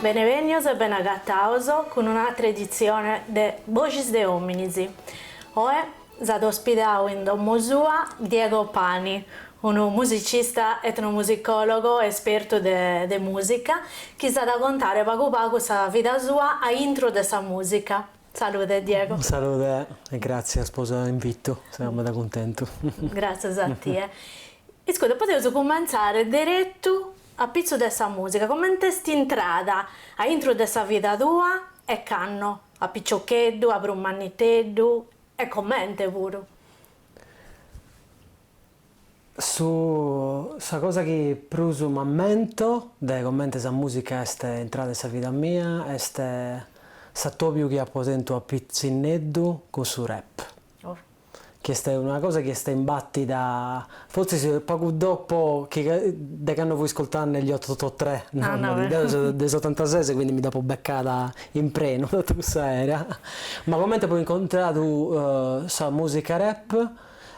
Bene bennios e bene agatados cun un'atra editzione de Boxis de Hominis. Oe S'at ospidau in domo sua Diego Pani, unu musicista etnomusicòlogu e espertu de mùsica, chi s'at a contare pagu pagu sa vida sua a intro de sa mùsica. Salude Diego. Salude e gràtzias po s'invitu, seu meda cuntentu. Gràtzias a tie. Iscuta, podeus cumentzare deretu apitzus de sa mùsica, coment'est intrada a intro de sa vida tua e cando? a piciocheddu, a prus manniteddu, e comente puru. Su sa cosa chi prus m'ammento de comente sa mùsica est intrada in sa vida mia est s'atòbiu chi apo tentu a pitzinneddu cun su rap. chi est una cosa chi est imbàtida fortzis pagu dopo chi cando fui iscultende gli otto otto tre, no, deu seu de su setantases quindi mi dd'apo becada in prenu totu cussa era, ma comente apo incontradu sa musica rap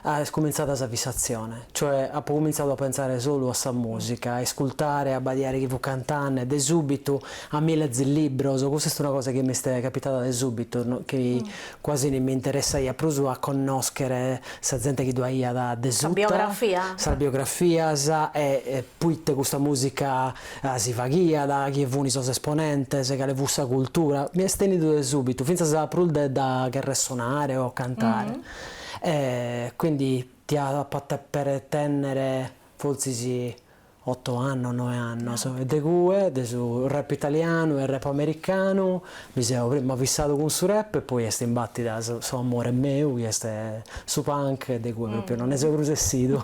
est cumintzada sa fissazione, cioè apo cumintzadu a pentzare solu a sa musica, a iscultare, a abbadiare chi fut cantende, de subitu a mi lèzere libros, cussa est una cosa chi m'est capitada de subitu, chi Quasi mi interessaiat prus a connòschere sa zente chi ddu aiat de suta. Sa biografia? Sas biografias e poite custa mùsica si faghiat, chie funt sos esponentes, cale fut sa cultura. Mi est tènnidu de sùbitu, fintzas prus de dda cherrer sonare o cantare. E quindi tia pòdere tènnere fortzis oto annos, noe annos, e de cue, de su rap italianu e rap americanu, mi seu prima fissadu cun su rap e poi est imbàtida su su amore meu chi est su punk de cue pròpriu no nde seu prus essidu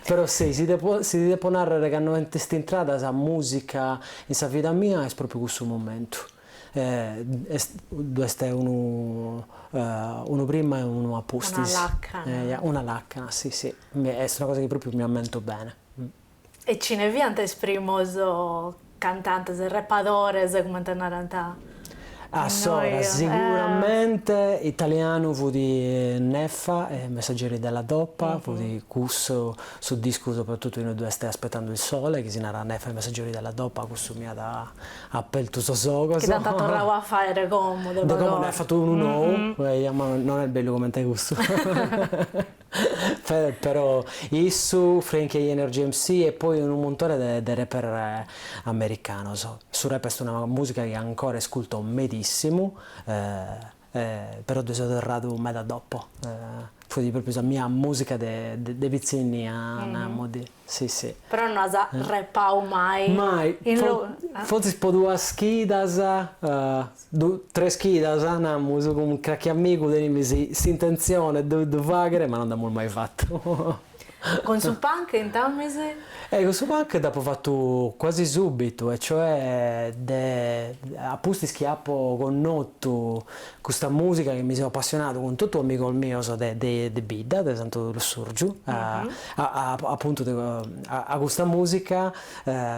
però si si depo si ti depo nàrrere cando est intrada sa mùsica in sa vida mia est pròpriu cussu momentu e est ddu est unu unu prima e unu a pustis, una lacana, una lacana si si Est una cosa chi pròpiu mi ammento bene. E chine fiant is primos cantantes, rapadores, cumenti narant innoi. Ah seguramente italianu fut Neffa e i Messaggeri della Dopa, fut cussu su discu soprattuttu inue ddu est Aspettando il sole, chi si narat Neffa e i Messaggeri della Dopa, cussu mi at apertu sos ogos. Chi dd'ant torrau a faere como de pagu. De como nd'at fatu unu nou, ma non est bellu comente cussu. Però issu, Frankie Hi-NRG MC e poi unu muntone de rapper americanos. Su rap est una musica chi ancora isculto medissimu, però dde so torradu meda dopo, fut propriu sa mia musica de pitzinnia, namus. Si si. Però no as repau mai. Mai, fortzis po duas chidas, tres chidas namus, cun crachi amigu tenimis s'intentzione de ddu faghere, ma no nd'amus mai fatu. Cun su punk intamis? E cun su punk dd'apo fatu cuasi subitu, e cioè de a pustis chi apo connotu Custa mùsica chi mi seu apassionadu cun totu amigos mios de de bidda, de Santu Lussurgiu, apuntu a custa mùsica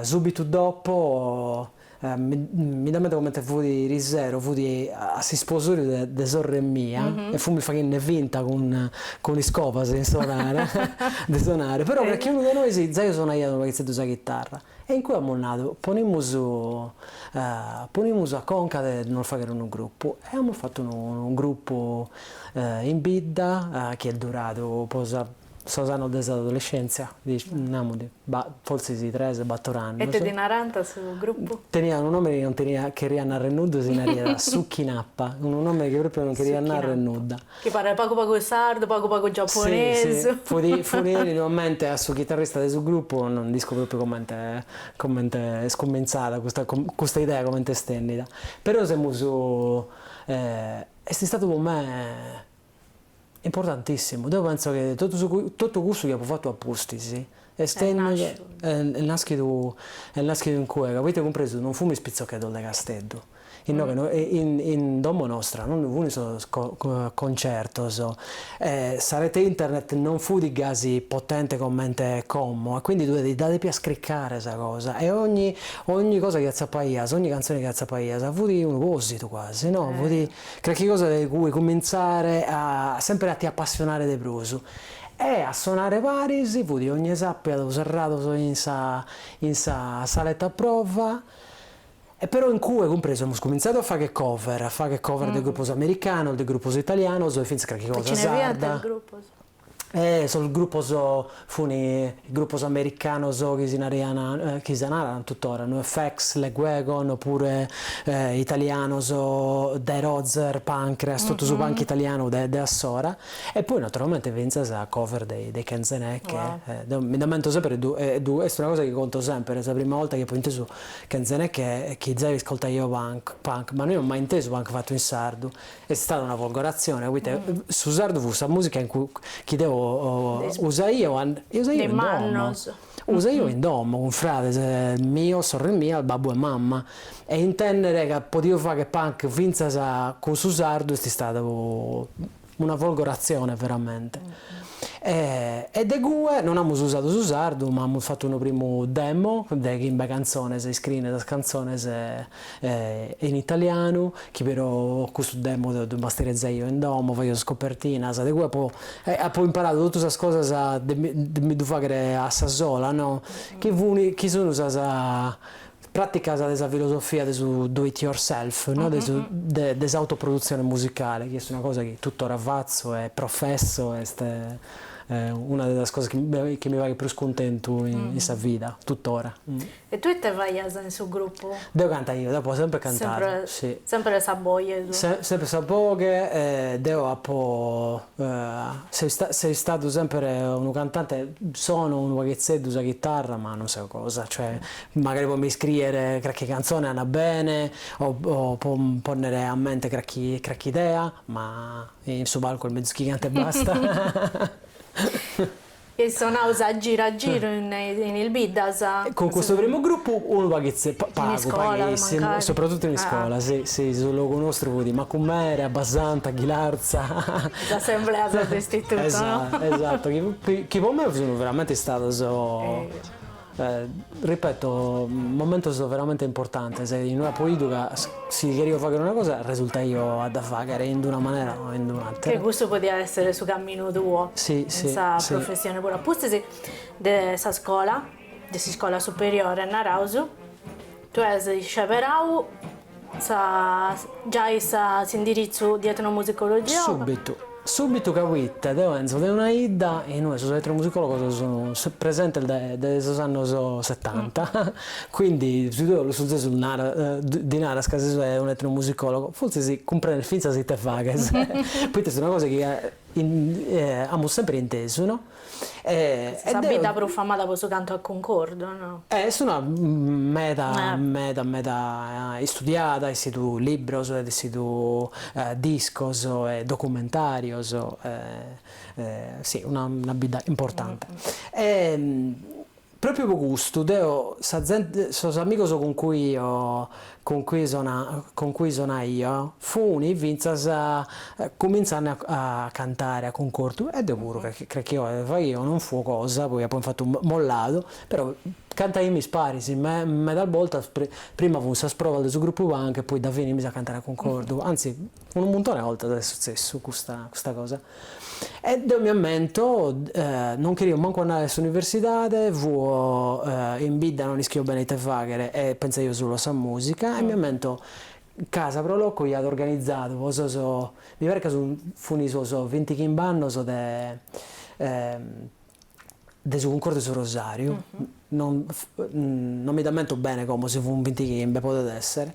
sùbitu dopo mi mi dd'amento comente fut irisero, fut a s'isposoriu de de sorre mia e fumis faghinne finta cun cun iscobas de sonare de sonare, però crachi unu de nois zai sonaiat unu paghitzeddu sa chitarra. E in cue amus nadu, ponimus ponimus a conca de nos fagher unu grupu, e amus fatu unu unu grupu in bidda, chi est duradu po sa sos annos de s'adolescèntzia, namus ba forsis tres bator annos. E ite ddi narant su grupu? Teniat unu nomene chi non teniat, cheriat narrer nudda e si naraiat Suchinappa, unu nomene chi propriu non cheriat narrer nudda. Chi paret pagu pagu sardu, pagu pagu giaponesu. Si, si, fut fut in mente a su chitarrista de su grupu, no nd'isco propriu comente comente est cumentzada custa custa idea comente est bennida. Però semus est istadu po me importantissimu. Deu pentzo chi totu su totu cussu chi apu fatu a pustis Est nàschidu est nàschidu in cue ca, poite cumpresu non fumis pitzochedos de Casteddu. Inoghe in domo nostra non ddu funt sos concertos e sa rete internet non fut gasi potente comente como e quindi tue dda depias cricare sa cosa e ogni ogni cosa chi atzapaias, ogni cantzone chi atzapaias fut unu pòsidu quasi, no, fut crachi cosa de cui cumintzare a sempre a ti appassionare de prus E a sonare paris fut ogne sàpiadu serrados in sa in sa saletta prova, e però in cue, cumpresu, amus cumintzadu a fagher cover, a fagher cover de grupos americanos, de grupos italianos e fintzas carchi cosa sarda. E sos grupos funi grupos americanos chi si naraian, chi si naran tuttora, NoFX, Lagwagon, o puru italianos, Derozer, Punkreas, totu su punk italianu de de assora. E poi naturalmente fintzas cover dei Kenze Neke, deu mi nd'ammento semper e ddu e ddu est una cosa chi conto semper, sa prima 'olta chi apo intesu Kenze Neke chi zai ascoltaio punk punk, ma no aio mai intesu punk fatu in sardu, est istada una folgoratzione poita su sardu fut sa musica in cui chi deu usaio e usaio in domo. Usaio in domo cun frades mios, sorres mias, babbu e mamma, e intènnere ca podio fagher punk fintzas cun su sardu est istada una folgoratzione veramente. E de cue non amus usadu su sardu ma amus fatu unu primu demo de chimbe cantzones, iscriende sas cantzones E in italianu, chi però custu demo deu ddu masterizzaio in domo, faio sas copertinas, de cue apo apo imparadu totu sas cosas de mi de mi ddu faghere a sa sola, no, chi fun chi sun sas praticas de sa filosofia de su do it yourself, no, de su de de s'autoproduzione musicale, chi est una cosa chi tuttora fatzo e professo, est una de sas cosas chi mi faghet prus cuntentu in sa vida, tuttora. E tue ite faias in su gruppu? Deo cantaio, deo apo semper cantadu, si. Semper sa boghe e su. Semper sa boghe, deo apo seu istadu semper unu cantante, sono unu paghetzeddu sa chitarra ma non seu cosa, cioè magari po mi iscriere crache cantzone andat bene o po ponnere a mente crache crache idea, ma in su palcu est mezus chi cante e basta. Eis sonau a giru a giru in is biddas. Cun custu primu grupu unu paghetze, pagu, paghissimu, soprattuttu in iscola, si, si, su logu nostru fut Macumere, Abbasanta, Ghilarza. S'assemblea de s'istituto, no? Esatto, esatto, chi po mei sun veramente istados. Ripeto, momentos veramente importantes, in ue apo 'idu ca si cherio fagher una cosa resultaio a dda fagher in d'una manera o in d'un'atera. Chi custu podiat esser su caminu tuo in sa professione puru a pustis de sa scola, de s'iscola superiore naraus. Tue as isceberau sa giai sa s'indiritzu di etnomusicologia o. Subitu. Subitu ca poita deu enzo de una 'idda in ue sos etnomusicologos sun presentes dae dae sos annos setanta, quindi si tue lussurzesu nara ddi naras ca ses un'etnomusicologo, fortzis cumprendet fintzas ite faghes, poita est una cosa chi amus semper intesu no. Sa bidda prus famada po su cantu a cuncordu, no? Est una meda meda meda istudiada, essidu libros, essidu discos e documentarios, si una bidda importante. Pròpiu po custu, deo, sa zente, sos amigos cun cui fuo, cun cui sona, cun cui sonaio, funi fintzas cumintzende a a cantare a cuncordu, e deo puru, calchi, calchi oghe faghio, non fuo cosa, poi apo infatu molladu, però cantaimis paris, me, medas boltas, pri, prima fun sas provas de su grupu punk e poi dda finimis a cantare a cuncordu, anzi, Unu muntone 'e 'oltas est sutzessu custa custa cosa e deo mi ammento non cherio mancu andare a s'universidade, fuo in bidda non ischio bene ite faghere e pensaio solu a sa musica e mi ammento ca sa Pro Loco iat organizadu po sos mi paret ca fun fun sos vintichimb'annos de de su Cuncordu 'e su Rosàriu, no no mi d'ammento bene como, si fun vintichimbe, podet èssere,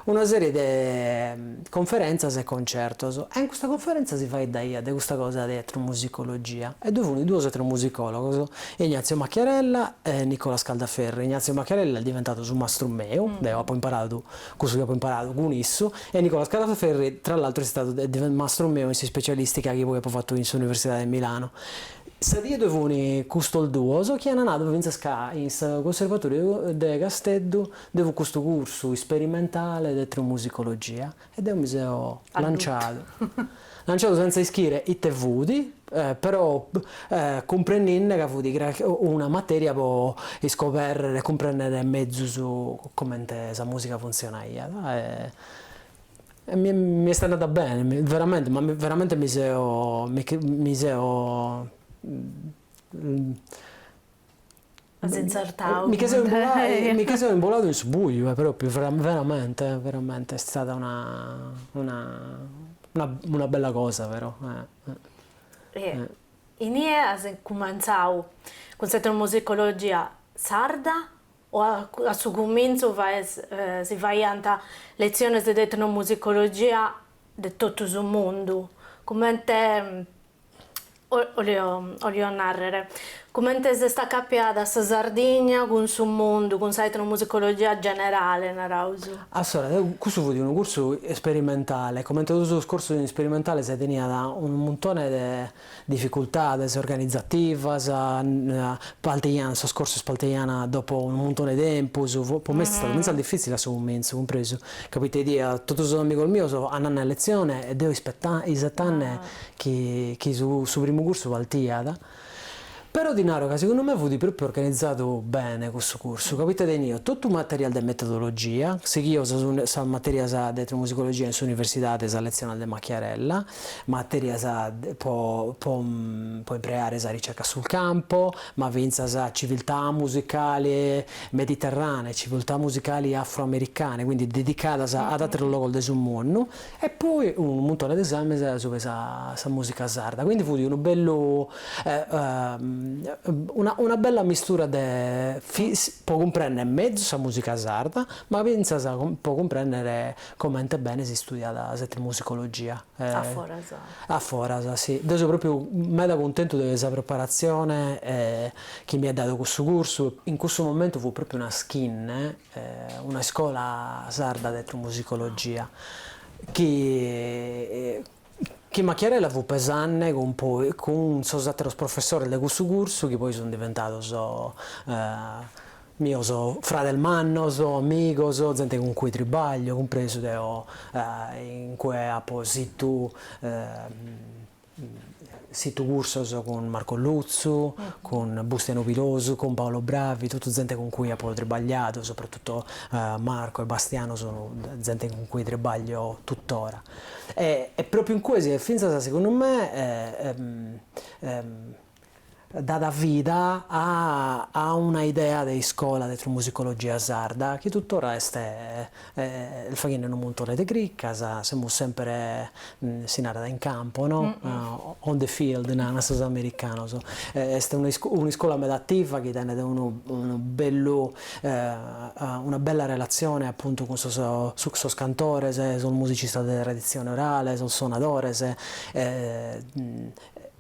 una serie de conferèntzas e concertos, e in custa conferèntza si faeddaia de custa cosa de etnomusicologia, e ddoe fun duos etnomusicòlogos, Ignazio Macchiarella e Nicola Scaldaferri, Ignazio Macchiarella est diventadu su mastru meu, deo apo imparadu cussu chi apo imparadu cun issu, e Nicola Scaldaferri tra l'altru est istadu mastru meu in s'ispecialistica chi poi apo fatu in s'Universidade 'e Milano. Sa die ddoe funi custos duos chi ana nadu fintzas ca in su Cunservatoriu de Casteddu ddoe fut custu cursu isperimentale de etnomusicologia e deo mi seo lanciadu, lanciadu sentza ischire ite fut, però cumprenninde ca fut una materia po iscoberrere e cumprennere mezus comente sa musica funtzionaiat e Mi mi est andada bene, veramente, ma veramente mi seo mi seo As intzertadu mi che seo imboladu mi che seo imboladu in su buju propriu veramente veramente est istada una una una bella cosa però Inie as cumentzadu cun s'etnomusicologia sarda O a su cumintzu si faiant letziones de etnomusicologia de totu su mundu, comente, olio nàrrere, comente s'est acapiada sa Sardigna cun su mundu, cun sa etnomusicologia generale, naraus. Assora custu fut unu cursu isperimentale, comente totu sos cursos isperimentales teniat unu muntone de dificultades organizativas, palteian, sos cursos palteian dopo unu muntone 'e tempus, pro me est istadu fintzas difitzile a su cumintzu, cumpresu ca poite bidia totu sos amigos mios ananne a letzione e deo ispetta isettanne chi chi su su primu cursu partiat Però ti naro ca segundu me fut propriu organizadu bene cussu cursu, ca poita tenio totu materias de metodologia, seghio sas sas materias de etnomusicologia in s'universidadi e sas letziones de Macchiarella, materias po po po imparare sa ricerca sul campo, ma fintzas civiltà musicali mediterranee, civiltà musicali afro-americane, quindi dedicadas ad ateros logos de su mundu, e poi unu muntone de esames supe sa sa musica sarda, quindi fut unu bellu una una bella mistura de po cumprender mezus sa musica sarda, ma finzas po cumprender comente bene si studiat s'etnomusicologia a foras a foras si, deu so propriu meda cuntentu de sa preparazione chi mi at dadu cussu cursu, in cussu momentu fut propriu una schinne una iscola sarda de etnomusicologia chi chi Macchiarella fut pesanne cun poi cun sos àteros professores de cussu cursu chi poi sunt diventados mios frades mannos, amigos, zente cun cui tribaglio, cumpresu deo in cue apo situ Situ cursos cun Marco Lutzu, cun Bustianu Pilosu, cun Paolo Bravi, totu zente cun cui apo tribagliadu, soprattutto Marco e Bastiano sunu zente cun cui tribaglio tuttora. E propriu in cue si est finzas segundu me dada vida a a una idea de iscola de etnomusicologia sarda chi tuttora est faghende unu muntone de cricas, semus sempre, si narat, in campo, no? On the field narant sos americanos, est un'iscola meda ativa chi tenet unu unu bellu una bella relatzione appuntu cun sos cun sos cantores, sos musicistas de traditzione orale, sos sonadores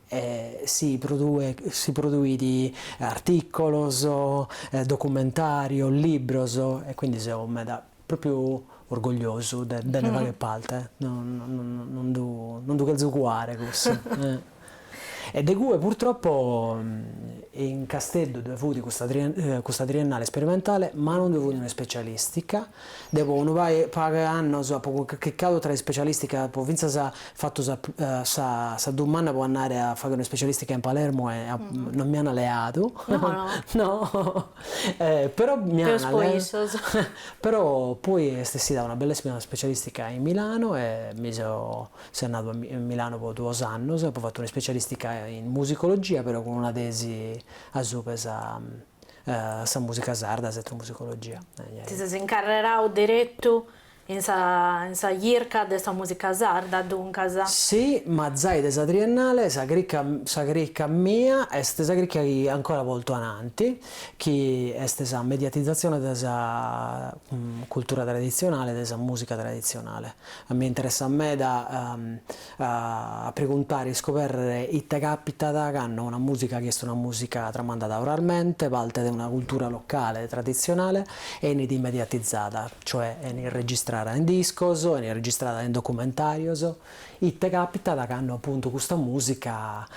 e si produit artìcolos, documentàrios, libros, e quindi seu meda, propriu orgogliosu de nde fagher parte, non ddu cherzo cuare cussu. E de cue purtroppo in Casteddu ddoe fut custa triennale sperimentale, ma non ddoe fut un'ispecialìstica, Deo po unu pagu 'e annos apo cricadu tra ispecialisticas, apo fintzas fatu sa dumanna po annare a faghere una specialistica in Palermo e non mi ana leadu, no, però mi ana leadu, peus po issos, però poi est essida una bellissima specialistica in Milano e mi so seu annadu a Milano po duos annos, apo fatu una specialistica in musicologia però cun una tesi asupe sa sa mùsica sarda, s'etnomusicologia. Ti ses incarrerau deretu in sa in sa chirca de sa mùsica sarda, duncas? Si, ma zai de sa triennale sa cricca sa cricca mia est sa cricca chi ancora portu ananti, chi est sa mediatizatzione de sa cultura traditzionale, de sa mùsica traditzionale. A mie interessat meda a preguntare e iscoberrere ite capitat cando una musica chi est una musica tramandada oralmente, parte de una cultura locale traditzionale, enit mediatizada, cioè enit registrada in discos, enit registrada in documentarios, ite capitat cando appuntu custa musica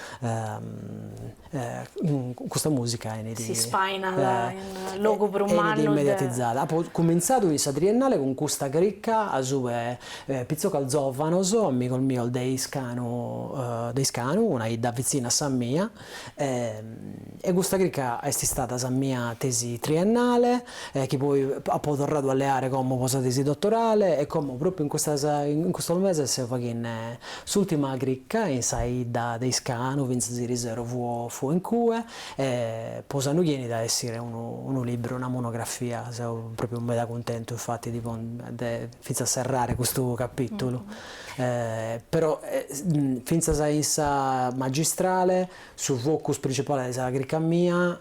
Custa mùsica enit. S'ispainat in logu prus mannu de. Enit mediatitzada. Apo cumintzadu in sa triennale cun custa cricca asue pitzocos zòvanos, amigos mios de Iscanu, de Iscanu, una 'idda vitzina a sa mia, e custa cricca est istada sa mia tesi triennale, chi poi apo torradu a leare como pro sa tesi dotorale e como propriu in custas in custos meses seu faghende S'ultima cricca in sa 'idda de Iscanu fintzas s'iriseru fuo fuo in cue e po s'annu chi enit a essire unu unu libru, una monografia, seu propriu meda cuntentu infatti de pon de fintzas serrare custu capitulu e però e fintzas in sa magistrale su focus principale de sa cricca mia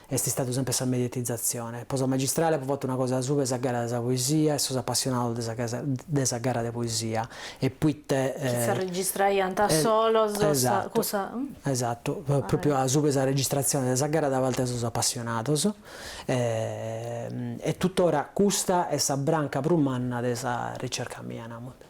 est istadu semper sa mediatizatzione. Po sa magistrale apo fatu una cosa supe sa gara de sa poesia e sos apassionados de sa casa de sa gara de poesia e poite Chi s'arregistrant solos sa cussa Esatto, esatto, propriu asupe sa registratzione de sa gara da parte de sos apassionados e tuttora custa est sa branca prus manna de sa ricerca mia, namus.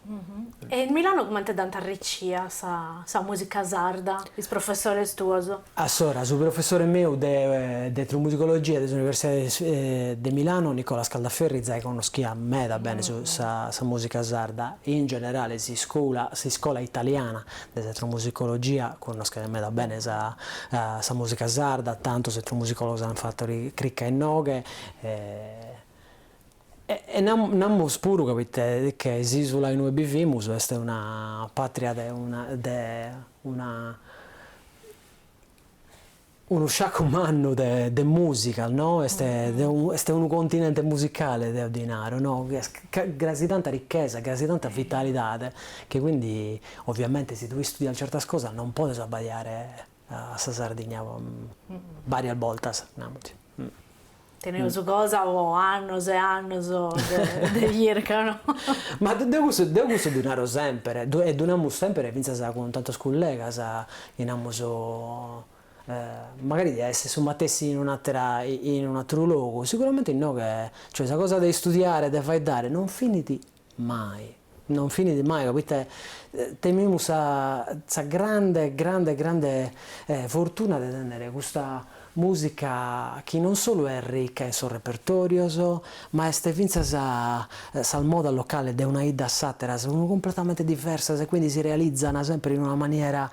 E in Milano comente dd'ant arricia sa mùsica sarda is professores tuos? Allora, su professore meu de de etnomusicologia de s'Universidade de Milano, Nicola Scaldaferri, zai connoschiat meda bene su sa sa mùsica sarda, in generale s'iscoula s'iscola italiana de s'etnomusicologia connoschet meda bene sa sa mùsica sarda, tantos etnomusicologos ant fatu ri cricca innoghe e E namus puru capit chi s'isula inue bivimus est una patria de una de una unu sciacu mannu de de musicas no est de unu est unu continente musicale deo ddi naro no chi est gasi tanta ricchesa gasi tanta vitalidade chi quindi ovviamente si tue istudias certas cosas non podes abbadiare a sa Sardigna bàrias bortas, namus. Tenimus cosa po annos e annos de chirca, no? Ma deu cussu, deu cussu ddu naro semper, e ddu namus semper fintzas cun tantos cullegas, chi namus, magari diat essi su matessi in un'atera, in un'ateru logu, siguramente innoghe, cioè sa cosa de istudiare e de faeddare non finit Mai. Non finit mai ca poita tenimus sa sa grande grande grande fortuna de tenner custa musica chi non solu est ricca in sos repertorios ma est finzas sas modas locales de una 'idda a s'attera sun completamente diversas e quindi si realizzana sempre in una maniera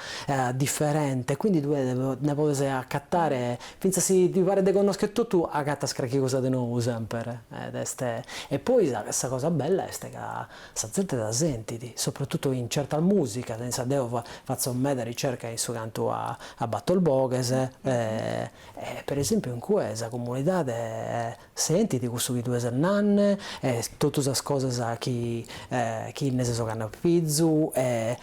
differente e quindi tue ne podes accattare Fintzas si ti paret de connoschere totu acatas crachi cosa de nou semper ed est e poi sa sa cosa bella est ca sa zente dda sentit, sopratutu in certas musicas, insaras deo fatzo meda ricerca in su cantu a a bator boghes e e per esempiu in cue sa comunidade Sentit cussu chi tue ses nanne e totu sas cosas chi chi nne ses oganne a pizu e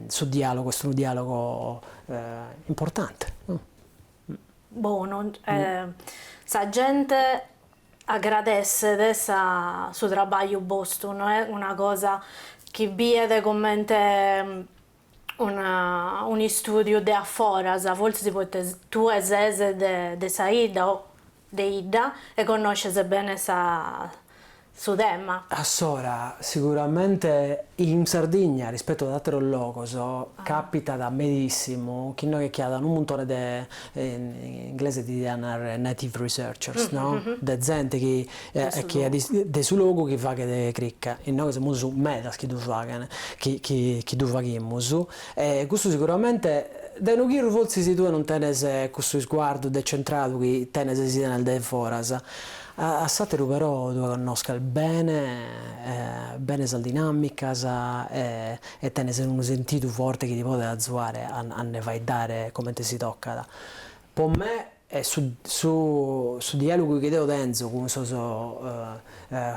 su dialogu est unu dialogu importante no? Bonu sa gente agradesset sa su trabagliu bostu no est una cosa chi biet comente un'istùdiu de aforas, fortzis poita tue ses de sa 'idda o de 'idda e connosces bene sa su tema. Assora, siguramente in Sardigna rispetu ad àteros logos càpitat medissimu chi innoghe ch'at unu muntone de, in inglesu ddi diant native researchers, no, de zente chi e chi est de su logu chi faghet cricca, inoghe semus medas chi ddu faghen, chi ddu faghimus, e custu siguramente, dae unu chirru fortzis tue non tenes cussu isguardu decentradu chi tenes si 'enis dae foras, a s'àteru però tue connosches bene bene sas dinàmicas e tenes unu sentidu forte chi ti podet azuare a nde faeddare comente si tocat, po me Su dialogu chi deo tenzo cun sos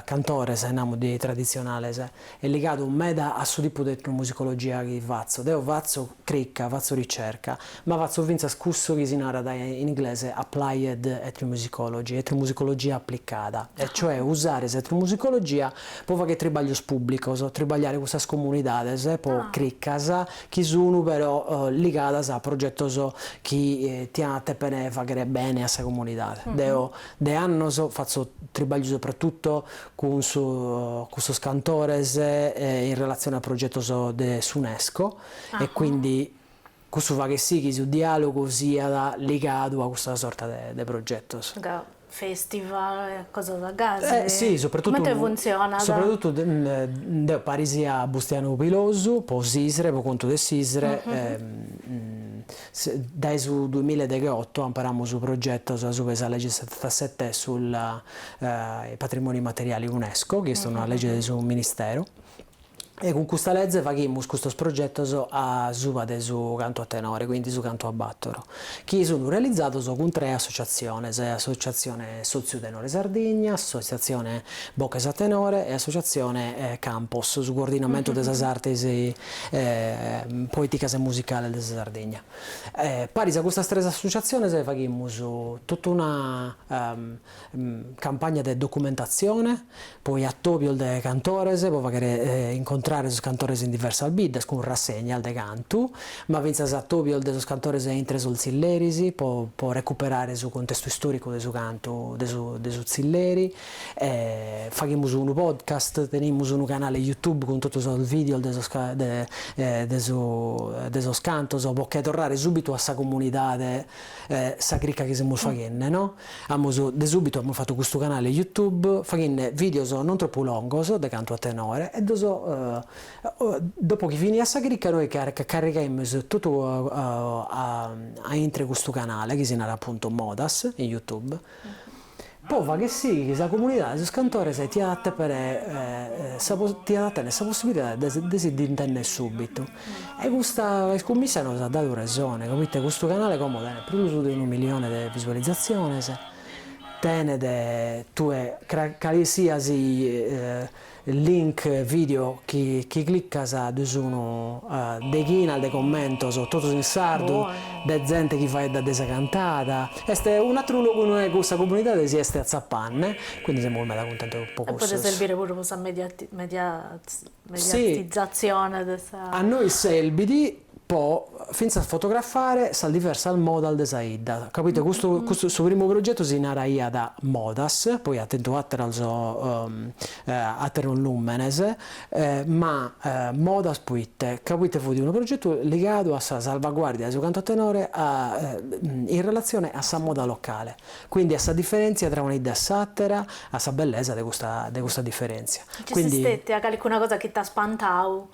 cantores, namus de tradizionales, est ligadu meda a su tipu de etnomusicologia chi fatzo. Deo fatzo cricca, fatzo ricerca, ma fatzo fintzas cussu chi si narat in inglese applied ethnomusicology, etnomusicologia applicada, e cioè usare s'etnomusicologia po fagher tribaglios pùblicos, tribagliare cun sas comunidades, po criccas, chi sunu però ligadas a progetos chi tiant a tèpere fàghere bene a sa comunidade. Deo de annos fatzo tribagliu sopratutto cun cun sos cantores in relatzione a progetos de s'Unesco e quindi cussu faghet si chi su diàlogu siat ligadu a custa sorta de progetos. Festival, cosas gasi? Si, soprattuttu. Comente funzionat? Soprattuttu deu paris a Bustianu Pilosu po s'ISRE, po contu de s'ISRE, dae su duamilla e degheotto amparamus progetos a suba 'e sa legge setantasette sul patrimoniu immateriali UNESCO, chi est una legge de su ministero, e cun custa leze faghimus custos progetos a suba de su cantu a tenore, quindi su cantu a bàtoro, chi sun realizados cun tres associatziones, Associatzione Sotziu Tenore Sardigna, Associatzione Boches a Tenore e Associatzione Campos, su coordinamentu de sas artes poeticas e musicales de sa Sardigna. Paris a custas tres associatziones faghimus totu una Campagna de documentatzione poi atòbios de cantores po faghere incontrare sos cantores in diversas biddas cun rassegnas de cantu, ma fintzas atòbios de sos cantores intre sos tzilleris po po recuperare su cuntestu istòricu de su cantu de su de su tzilleri. Faghimus unu podcast, tenimus unu canale Youtube cun totu sos videos de sos de de su de sos cantos po che torrare subitu a sa comunidade sa cricca chi semus faghende no. Amus de subitu amus fatu custu canale YouTube faghinne videos non tropu longos de cantu a tenore e ddos dopo chi finiat sa crica noi carrigaimus totu a intre custu canale chi si narat appuntu Modas in YouTube po fagher si chi sa comunidade sos cantores tiat a tèpere tiat a tenner sa possibilidade de si ddi intender subitu. E custa iscummissa nos at dadu resone, ca poite custu canale como tenet prus de unu milione de visualizzatziones, tenet tue calesisiat link video chi chi clicas ddu sun deghinas de commentos totus in sardu de zente chi faeddat de sa cantada, est un'atteru logu inue cussa comunidade si est atzapanne, quindi semus meda cuntentos po cussos. E podet serbire puru po sa media Mediatizatzione de sa. A nois serbit po fintzas fotografare sas diversas modas de sa 'idda, ca proite custu custu su primu progetu si naraiat Modas, poi at tentu ateros ateros lùmenes, ma Modas poite, ca poite fut unu progetu ligadu a sa salvaguàrdia de su cantu a tenore in relatzione a sa moda locale. Quindi a sa differèntzia tra una 'idda e s'àtera, a sa bellesa de custa de custa diferèntzia. Quindi nci at calicuna cosa chi t'at spantau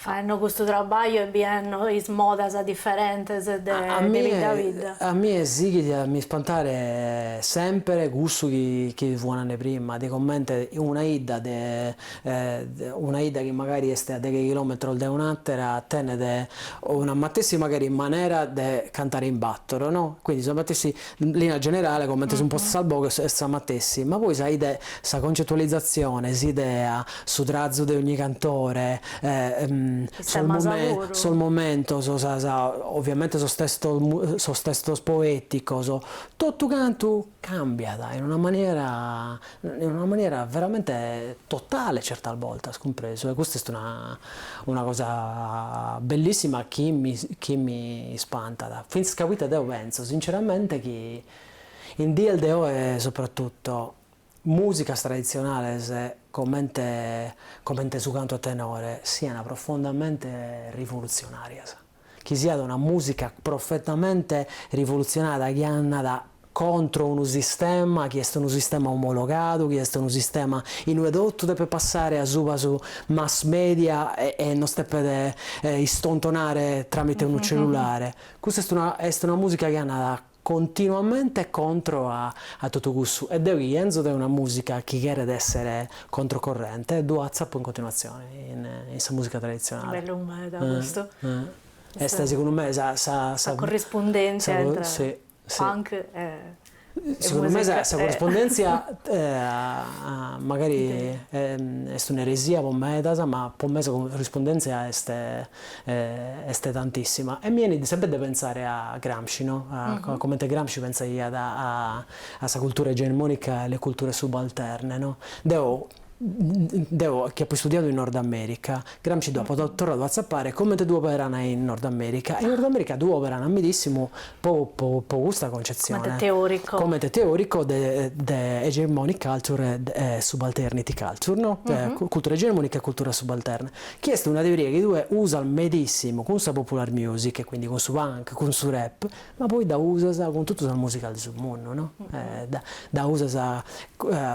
faenno custu trabagliu e bienno is modas diferentes de bidda a bidda? A mie sighit a mi spantare semper cussu chi chi fua nande prima de comente una 'idda de una 'idda chi magari est a deghe chilòmetros de un'àtera tenet una matessi magari manera de cantare in bàtoro, no, quindi sa matessi in linea generale comente sun postas sas boghes est sa matessi, ma poi sa sa concetualizatzione, s'idea, su trazu de ogni cantore, sos momentos, sas ovviamente sos testos sos testos poeticos, totu cantu cambiat in una maniera in una maniera veramente totale certas bortas, cumpresu, e custa est una una cosa bellissima chi mi chi mi ispantat, fintzas ca poita deo pentzo sinceramente chi in dies de oe soprattutto musicas traditzionales comente comente su cantu a tenore sian profondamente rivolutzionàrias. chi siat una mùsica profondamente rivolutzionària chi andat contro unu sistema chi est unu sistema omologadu, chi est unu sistema in ue totu depet passare asuba su mass media e nos depet istontonare tramite unu cellulare. Custa est una est una mùsica chi andat continuamente contro a a totu cussu e deu chi 'enzo de una musica chi cheret essere controcorrente ddu atzapo in continuatzione in in sa musica traditzionale. Bellu meda custu. E segundu me sa sa sa corrispundenzia intra punk e e musica. Segundu me sa sa corrispundenzia magari est un'eresia po medas ma po me sa corrispundenzia est est tantissima e mi 'enit semper de pentzare a Gramsci, no, a comente Gramsci pentzaiat a sa cultura egemonica e a le culture subalterne, no. Deo deo chi apo istudiadu in Nord America, Gramsci dd'apo torradu a tzapare e comente ddu operan in Nord America, in Nord America ddu operan medissimu po po po custa concezione, comente teorico, comente teorico de de hegemonic culture e subalternity culture, no, cultura egemonica e cultura subalterna Chi est una teoria chi tue usas medissimu cun sa popular music e quindi cun su punk, cun su rap, ma poi dda usas cun totu sas musicas de su mundu, no? Dda usas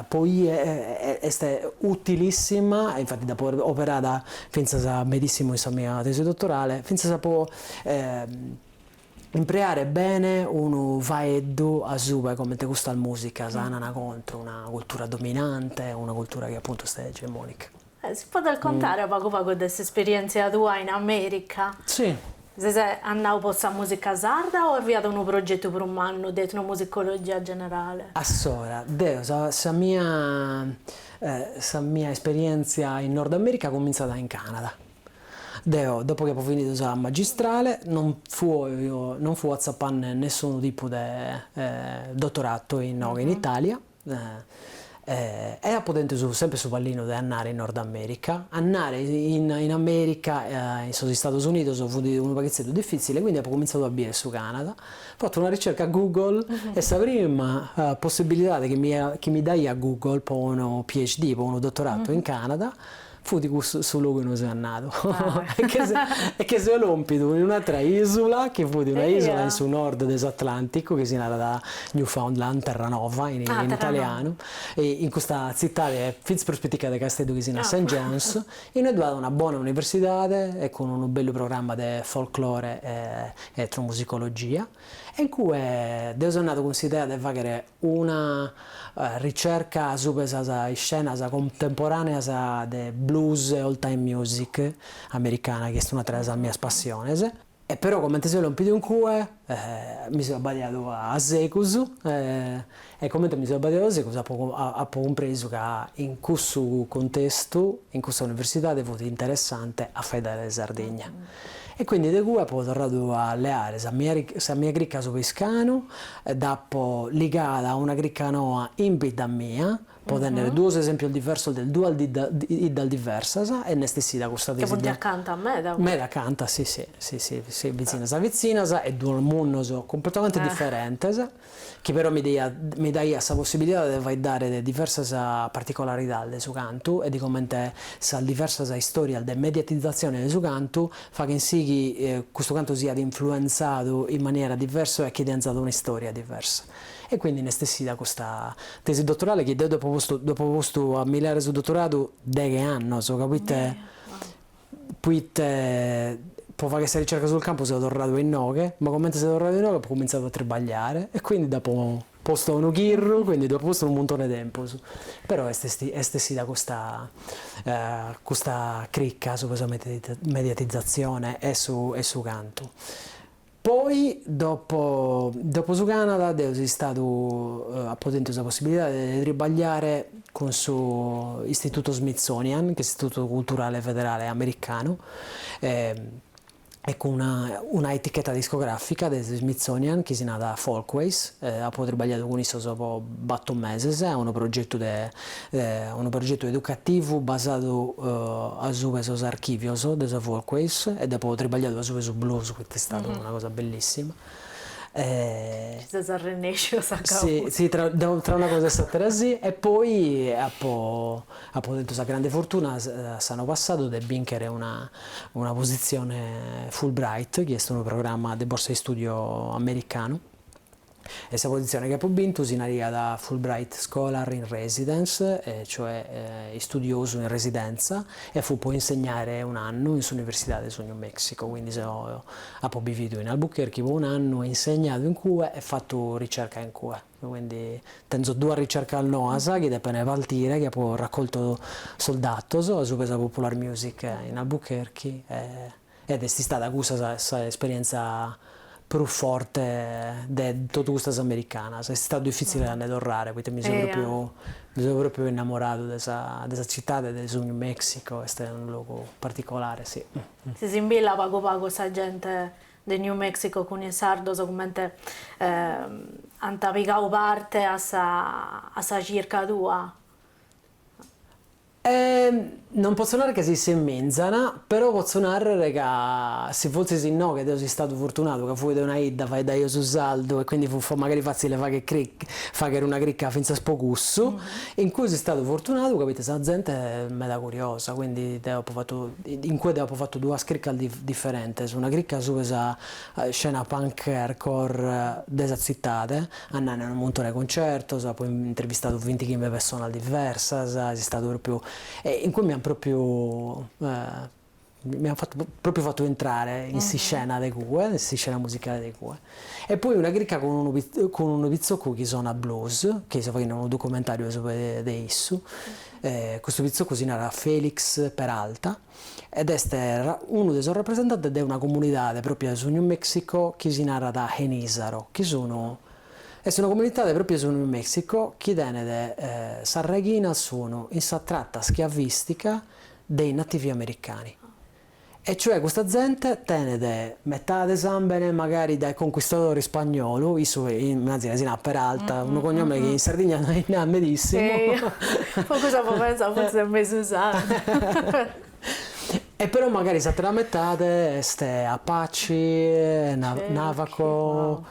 poi est utilissima, e infati dd'apo operada fintzas medissimu in sa mia tesi dottorale, fintzas po impreare bene unu faeddu asuba 'e comente custas musicas annan contro una cultura dominante, una cultura chi appuntu est egemonica. Si faghes a contare pagu pagu de s'esperièntzia tua in Amèrica? Si. Ses andadu po sa mùsica sarda o est fiat unu progetu prus mannu de etnomusicologia generale? Assora, deo sa sa mia sa mia esperièntzia in Nord Amèrica cumintzat in Canada. Deo, dopo chi apo fìnidu sa magistrale, non non fua atzapende nessunu tipu de dotoratu inoghe in Italia, E apo tentu semper su pallinu de andare in Nord America. Andare in America, in sos Istados Unidos, fut unu paghitzeddu difitzile, quindi apo comintzadu a bier su Canada, fattu una ricerca Google e sa prima possibilidade chi mi chi mi daiat Google po unu PhD, po unu dottorato in Canada, Fut cussu su logu inue seu andadu e che seu lompidu in un'atra isula, chi fut una isula in su nord de s'Atlanticu, chi si narat Newfoundland, Terranova in italianu, e in custa tzitadi, fintzas prus pitica de Casteddu, chi si narat Saint John's, inue ddu at una bona universidade e cun unu bellu programma de folklore e etnomusicologia, e in cue deu seu andadu cun s'idea de faghere Una ricerca subra sas iscenas contemporàneas de blues e old-time music americana, chi est un'atra de sas mias passiones. E però, comente seu lompidu in cue, mi so abbadiadu a segus, e comente mi so abbadiadu a segus apo apo cumpresu ca in cussu cuntestu, in cussa universidade fut interessante a faeddare de Sardigna. E quindi de cue apo torradu a leare sa mia sa mia crica subra Iscanu, dd'apo ligada a una crica noa in bidda mia, po tènnere duos esèmpios diversos de duas de duas biddas diversas, e nd'est essida custa tesi. Ca funt acanta meda. Meda acanta, si si, si si, si, bitzinas bitzinas e duos mundos cumpletamente diferentes. chi però mi mi daiat sa possibilidade de faeddare de diversas particolaridades de su cantu e de comente sas diversas istòrias de mediatizatzione de su cantu faghent si chi custu cantu siat influenzadu in maniera diversa e chi tenzat una istòria diversa. E quindi nd'est essida custa tesi dotorale chi deo ddu apo postu ddu apo postu a mi leare su dotoradu deghe annos ca proite Poite po fagher sa ricerca sul campo seu torradu a inoghe, ma comente seu torradu a inoghe apo cumintzadu a tribagliare e quindi d'apo postu unu chirru, quindi ddu apo postu unu muntone 'e tempus, però est est essida custa custa cricca subra sa mediatizatzione e su e su cantu. Poi dopo dopo su Canada deo so istadu apo tentu sa possibilidade de tribagliare cun su Istitutu Smithsonian, ch'est Istitutu Culturale Federale Americanu, e e cun una una eticheta discografica de su Smithsonian chi si narat Folkways, apo tribagliadu cun issos po battor meses a unu progettu de unu progetu educativu basadu asubu 'e sos archìvios de sa Folkways e deo apo tribagliadu asubu 'e su blues, chi est istada una cosa bellissima. Nci ses arrennèsciu a gabbu. Si, tra tra una cosa e s'àtera si. E poi apo apo tentu sa grande fortuna s'annu passadu de bìnchere una una positzione Fulbright, chi est unu programma de borsa de istùdiu americanu, E sa positzione chi apu bintu si naraiat Fulbright Scholar in Residence, cioè istudiosu in residentza, e fut po insegnare un'annu in s'Universidade de su New Mexico, quindi seu apu bividu in Albuquerque po un'annu e insegnadu in cue e fatu ricerca in cue. Quindi tenzo duas ricercas noas chi depene partire, chi apu raccoltu sos datos, asuba 'e sa Popular Music in Albuquerque e. ed est istada cussa sa esperientza prus forte de totu custas americanas, est istadu difitzile a nde torrare poita mi seu propriu mi seu propriu innamoradu de sa de sa citade de su New Mexico, est unu logu particolare si. S'assimbillat pagu pagu sa gente de New Mexico cun is sardos cumenti ant pigau parte a sa a sa circa tua? E non potzo narrer ca s'assemizant, però potzo narrer ca si forzis inoghe deo so istadu furtunadu ca fui de una 'idda faeddaio su sardu e quindi fut magari fatzile fagher chirc fagher una chirca fintzas po cussu, in cui so istadu furtunadu poita sa zente est meda curiosa, quindi deo apo fattu in cue deo apo fattu duas chircas differentes, una chirca asuba 'e sa scena punk e hardcore de sa tzitade, Andende a unu muntone 'e cuncertos, apo intervistadu vinti chimbe pessonas diversas, est istadu propriu, e in cui mi ant propriu mi ant fatu propriu fatu intrare in s'iscena de cue, in s'iscena musicale de cue. E poi una chirca cun unu cun unu pitzocu chi sonat blues, chi seu faghende unu documentariu de su de issu, custu pitzocu si narat Felix Peralta, ed est unu de sos rapresentantes de una comunidade pròpia de su New Mexico chi si narat Genízaro, chi sun, est una comunitade pròpia de su New Mexico chi tenet, sas reghinas sun in sa trata schiavistica dei nativi americani, e cioè custa zente tenet Metade sambene magari dae conquistadores ispagnolos, issu imàgina si narat Peralta, unu cognome chi in Sardigna nde ch'at medissimos. Po cussu apo pentzau fortzis est mesu sardu. E però magari s'atera metade est Apache, Navajo,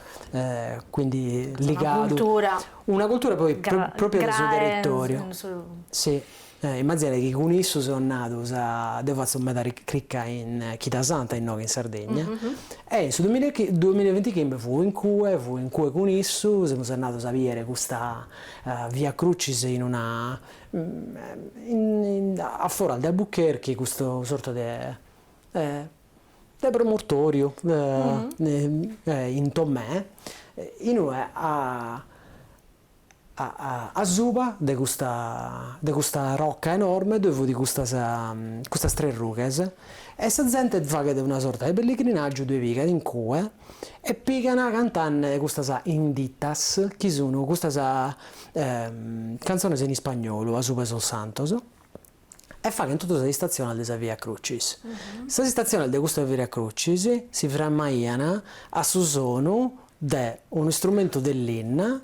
quindi ligadu. Una cultura. Una cultura poi propria de su territoriu. Graes. Immaginade chi cun issu seus andados, deu fatzu meda crica in Chida Santa innoghe in Sardegna, e in su duamilla e bintichimbe fui in cue, fui in cue cun issu, semus andados a bider custa Via Crucis in una a foras de Albuquerque custu sorta de de promontoriu in Tomè in ue a Asuba de custa de custa rocca enorme ddoi fut custas custas tres rughes e sa zente faghet una sorta de pellegrinàgiu ddue pigat in cue e pigan cantende custas inditas chi sun custas cantzones in ispagnolu asuba 'e sos santos e faghent totu sas istatziones de sa Via Crucis. Sas istatziones de custa Via Crucis si framaian a su sonu de un'istrumentu de linna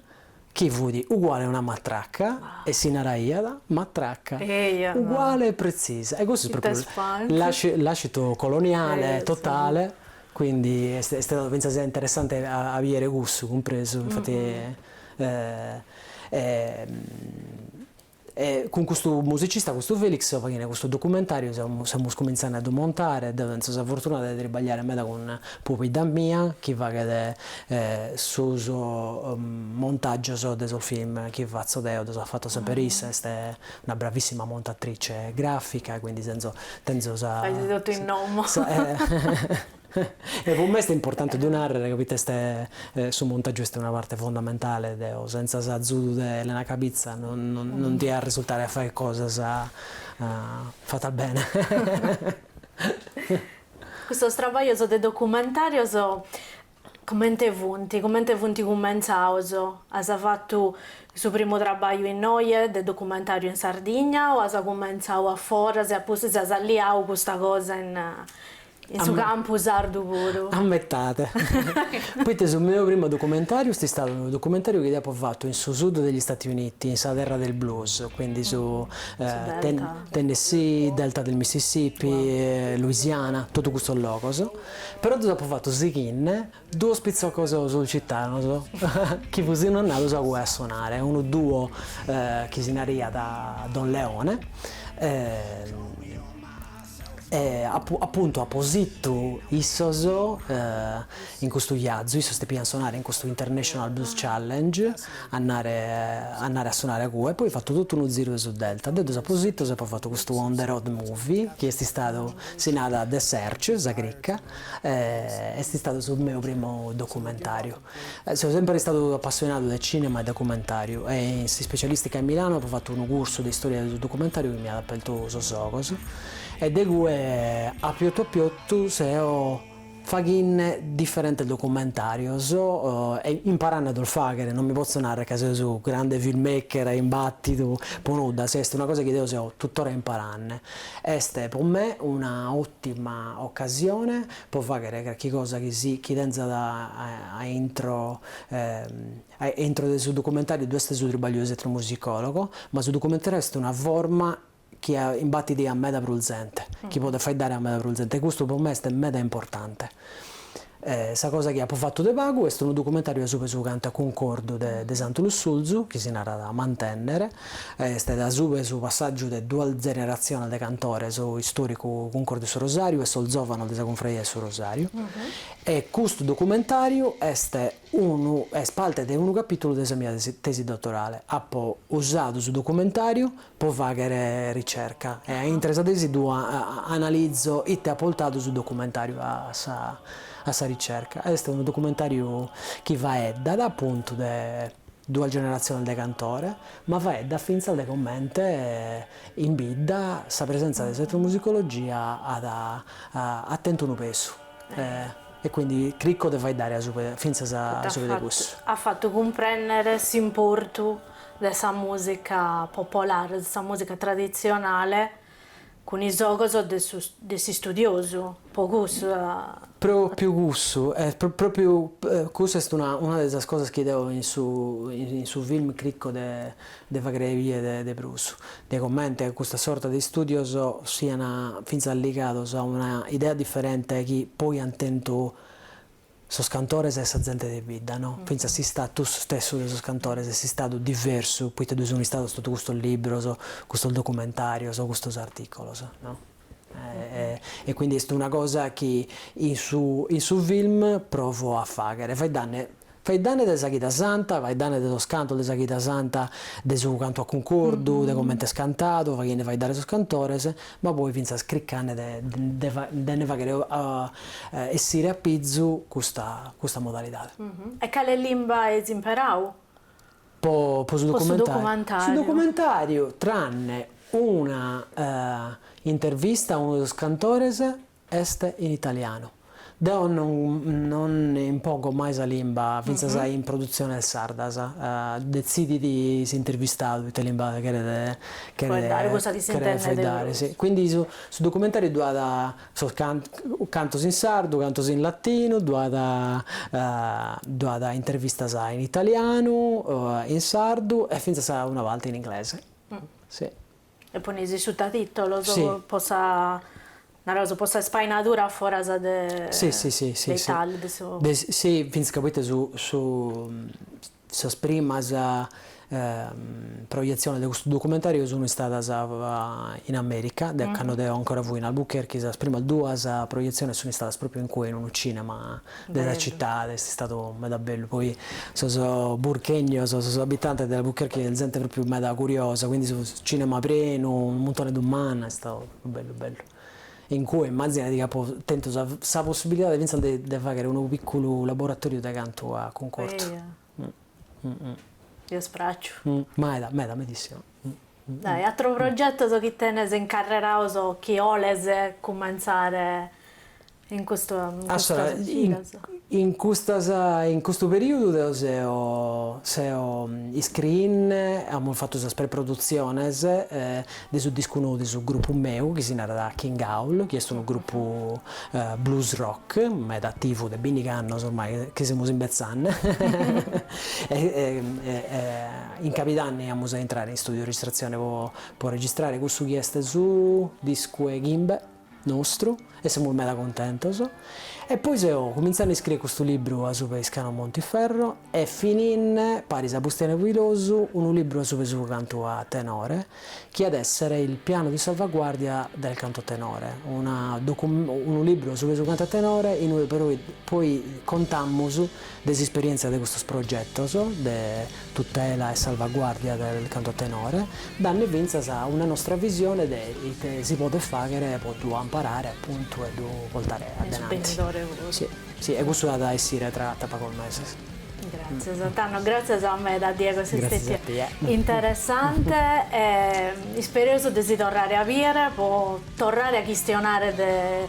chi fut uguale a una matraca e si naraiat matraca, uguale e pretzisa. E custu est pròpriu làscitu coloniale totale, quindi est istadu fintzas interessante a bìdere cussu cumpresu, infati. E cun custu musicista, custu Felix, seu faghende custu documentàriu, semus cumintzende a ddu montare, deu tenzo sa fortuna de tribagliare meda cun pobidda mia chi faghet sos montàgios de sos film chi fatzo deo, ddos at fatos semper issa, est una bravissima montatrice grafica, quindi tenzo sa E po me est importante ddu nàrrere ca poita est su montàgiu est una parte fondamentale, deo sentza s'azudu de Elena Cabizza non dia risultare a fagher cosas fatas bene. Custos trabaglios de documentarios comente funt, comente funt cumentzados? As fatu su primu trabagliu innoje de documentariu in Sardigna o as cumentzadu a foras e a pustis as alliadu custa cosa in In su campu sardu puru. A metade. Poita su meu primu documentariu est istadu unu documentariu chi apo fatu in su sud degli Stati Uniti, in sa terra del blues, quindi su Tennessee, Delta del Mississippi, Louisiana, totu custos logos. Però ddus apu fatus sighinde Duos pitzocos sulcitanos chi fusinu andados a cue a sonare, unu duo chi si naraiat Don Leone e apuntu apo situ issos in custu iazu, issos depian sonare in custu International Blues Challenge, andare andare a sonare a cue, poi fatu totu unu ziru de su Delta, deu ddus apo sitos, apo fatu custu On the Road Movie chi est istadu, si narat The Search, sa crica Est istadu su meu primu documentàriu. Seu semper istadu apassionadu de cìnema e documentàriu e in s'ispecialìstica in Milanu apu fatu unu cursu de istòria de su documentàriu chi mi at apertu sos ogos e de cue a piotu a piotu seu faghinne diferentes documentàrios e imparanne a ddos fàghere, non mi potzo nàrrere ca seu su grande filmmaker imbàtidu po nudda, si est una cosa chi deo seu tuttora imparanne. Est pro me una òtima ocasione pro fàghere carchi cosa chi si chi tentzat a intro a intro de su documentàriu ddu est su tribagliu de s'etnomusicòlogu, ma su documentàriu est una forma chi imbatit a meda prus zente, chi podet faeddare a meda prus zente e custu pro me est meda importante. E sa cosa chi apu fatu de pagu est unu documentàriu asupe su cantu a cuncordu de de Santu Lussurzu, chi si narat Mantènnere, est asupe su passàgiu de duas generatziones de cantores, su istòricu Cuncordu 'e su Rosàriu e sos zòvanos de sa Cunfraria 'e su Rosàriu. E custu documentàriu est unu est parte de unu capìtulu de sa mia tesi dottorale. Apo usadu su documentàriu po fàghere ricerca e a intre sa tesi ddu analizo ite at portadu su documentàriu a sa ricerca. Est unu documentàriu chi faeddat apuntu de duas generatziones de cantore, ma faeddat fintzas de comente in bidda sa presentza de s'etnomusicologia at tentu unu pesu e quindi crico de faeddare fintzas asupe de cussu. At fatu cumprènnere s'importu de sa mùsica popolare, de sa mùsica traditzionale, cun is ogos de su de s'istudiosu, po cussu a. Pròpiu cussu, e pròpiu cussu est una una de sas cosas chi deo in su in su film crico de de fàghere bìere de de prus, de comente custa sorta de istùdios siana fintzas ligados a una idea diferente chi poi ant tentu Sos cantores e sa zente de bidda, no? Fintzas s'istatus stessu de sos cantores est istadu diversu poita ddoi sunt istados totu custos libros, custos documentarios, custos articolos, no? E quindi est una cosa chi in su in su film provo a fagher, faeddanne faeddanne de sa Chida Santa, faeddanne de sos cantos de sa Chida Santa, de su cantu a cuncordu, de comente est cantadu, faghende faeddare sos cantores, ma poi fintzas cricande de nde nde faghere essire a pizu custa custa modalidade. E cale limba ais imperau? Po po su documentariu? Su documentariu tranne una intervista a unu de sos cantores Est in italianu. Deo non non impongo mai sa limba, fintzas in produtziones sardas. Detzidit s'intervistadu ite limba cheret cheret cheret faeddare, si. Quindi su su documentariu ddu at sos cantos in sardu, cantos in latinu, ddu at ddu at intervistas in italianu, in sardu e fintzas una parte in inglese, si. E ponis is sutatìtolos po sa, naraus, po sa spainadura foras de Italia, de su. Si, fintzas ca poite su su sas primas projetziones de custu documentàriu sunt istadas in Amèrica, de cando deo ancora fui in Albuquerque, sas primas duas projetziones sunt istadas pròpriu in cue, in unu cinema de sa citade, est istadu meda bellu, poi sos burchegnos, sos abitantes de Albuquerque est zente propriu meda curiosa, quindi su cinema prenu, unu muntone de dumannas, est istadu propriu bellu bellu, in cue immazzinadi chi apo tentu sa sa possibilidade fintzas de de faghere unu picculu laboratoriu de cantu a cuncordhu. E est pràxiu. Meda, meda, medissima. E atros progetos chi tenes in carrera o chi 'oles cumentzare in custu in custos giros? In custas in custu periudu deo seo seo iscriinne, amus fatu sas preprodutziones e de su discu nou de su grupu meu chi si narat King Howl chi est unu grupu blues rock meda ativu de binnighi annos ormai chi semus imbetzanne e in cabidanni amus a intrare in studiu de registratzione po registrare cussu chi est su discu 'e chimbe. nostru e semus meda cuntentos e poi seo cumintzanne a iscriere custu libru asuba 'e Iscano Montiferro e fininne paris a Bustianu Pilosu unu libru asuba 'e su cantu a tenore chi at essere il piano di salvaguardia del canto a tenore una docu unu libru asuba 'e su cantu a tenore in ue poi contamus de s'isperièntzia de custos progetos de tutela e salvaguàrdia del canto a tenore, danne fintzas una nostra visione de ite si podet fàghere po ddu amparare apuntu e ddu portare a denanti. Si, e custu at a essire tra pagos meses. Gràtzias tando, gràtzias meda Diego, ses stètiu interessante e ispereus de si torrare a bìere po torrare a chistionare de